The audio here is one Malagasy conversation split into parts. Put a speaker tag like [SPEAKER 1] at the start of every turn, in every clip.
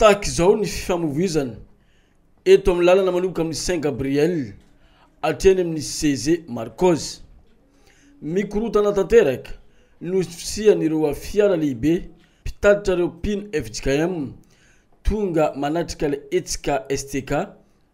[SPEAKER 1] Tahaka izao ny fifamoivoizana eto amin'ny lalana manomboka amin'ny Saint Gabriel hatreny amin'ny CESE Marcos. Mikorontana tanteraka noho ny fisian'ireo fiara lehibe Mpitatitra ireo mpino fjkm tonga manatrika ilay hetsika STK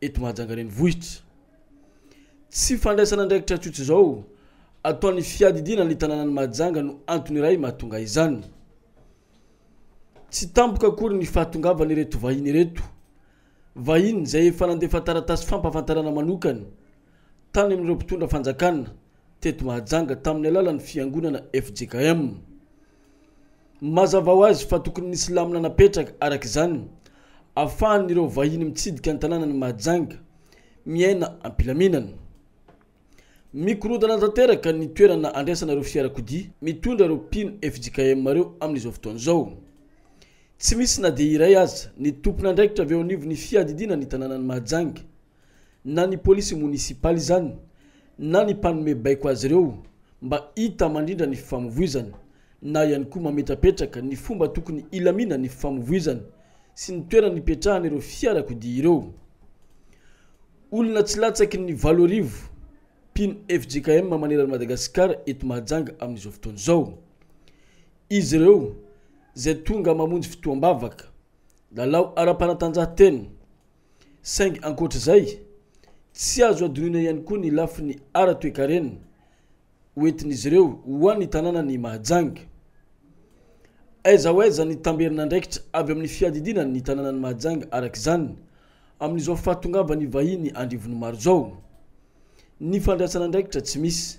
[SPEAKER 1] eto Mahajanga renivohitra. Tsy fandraisana andraikitra tsotra izao ataon'ny fiadidiana ny tanànan'i Mahajanga no antony iray mahatonga izany. Tsy tampoka akory ny fahatongavan'ireto vahiny ireto. Vahiny izay efa nandefa taratasy fampahafantarana manokana tany amin'ireo mpitondra fanjakana teto Mahajanga tamin'ny alalan'ny fiangonana fjkm. Mazava ho azy fa tokony nisy lamina napetraka araka izany ahafahan'ireo vahiny mitsidika ny tanànan'i Mahajanga miaina am-pilaminana. Mikorontana tanteraka ny toerana andraisana ireo fiarakodia mitondra ireo mpino fjkm ireo amin'izao fotoana izao. Tsy misy na dia iray aza ny tompon'andraikitra avy eo anivon'ny fiadidiana ny tanànan'i Mahajanga. na ny polisy monisipaly izany na ny mpanome baiko azy ireo mba hita mandrindra ny fifamovoizana na ihany koa mametrapetraka ny fomba tokony hilamina ny fifamovoizana sy ny toerana hipetrahan'ireo fiarakodia ireo. Olona tsy latsaky ny valo arivo mpino fjkm maneran'i Madagasikara eto Mahajanga amin'izao fotoana izao izy ireo izay tonga mamonjy fitoham-bavaka, lalao ara-panatanjahantena, Saingy ankoatra izay, tsy azo hadinoina ihany koa ny lafiny ara-toekarena ho entin'izy ireo ho an'ny tanànan'i Mahajanga. Aiza ho aiza ny tamberin'andraikitra avy amin'ny fiadidiana ny tanànan'i Mahajanga araka izany amin'izao fahatongavan'ny vahiny andrivonimaro izao? Ny fandraisan'andraikitra tsy misy.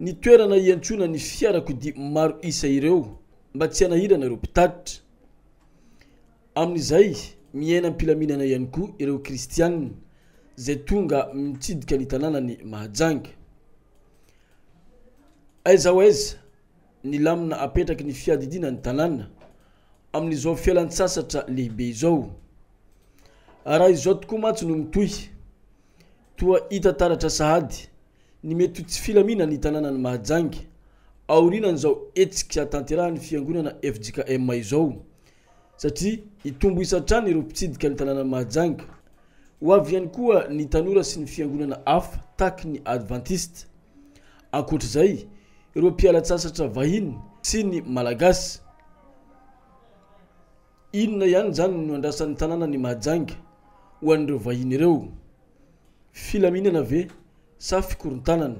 [SPEAKER 1] ny toerana iantsona ny fiarakodia maro isa ireo mba tsy hanahirana ireo mpitatitra. Amin'izay, miaina am-pilaminana ihany koa ireo Kristianina izay tonga mitsidika ny tanànan'i Mahajanga. Aiza ho aiza ny lamina apetraky ny fiadidiana ny tanàna amin'izao fialan-tsasatra lehibe izao? Raha izao tokoa mantsy no mitohy, toa hita taratra sahady Ny mety ho tsy filamina ny tanànan'i Mahajanga aorianan'izao hetsika tanterahan'ny fiangonana fjkm izao satria hitombo isa hatrany ireo mpitsidika ny tanànan'i Mahajanga. Ho avy ihany koa ny tanora sy ny fiangonana hafa taky ny advantista. Ankoatra izay, ireo mpiala-tsasatra vahiny sy ny Malagasy. Inona ihany izany no andrasan'ny tanànan'i Mahajanga ho an'ireo vahiny ireo? Filaminana ve sa fikorontanana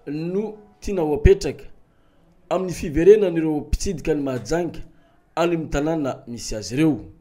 [SPEAKER 1] no tiana ho apetraka amin'ny fiverenan'ireo mpitsidika an'i Mahajanga any amin'ny tanàna misy azy ireo?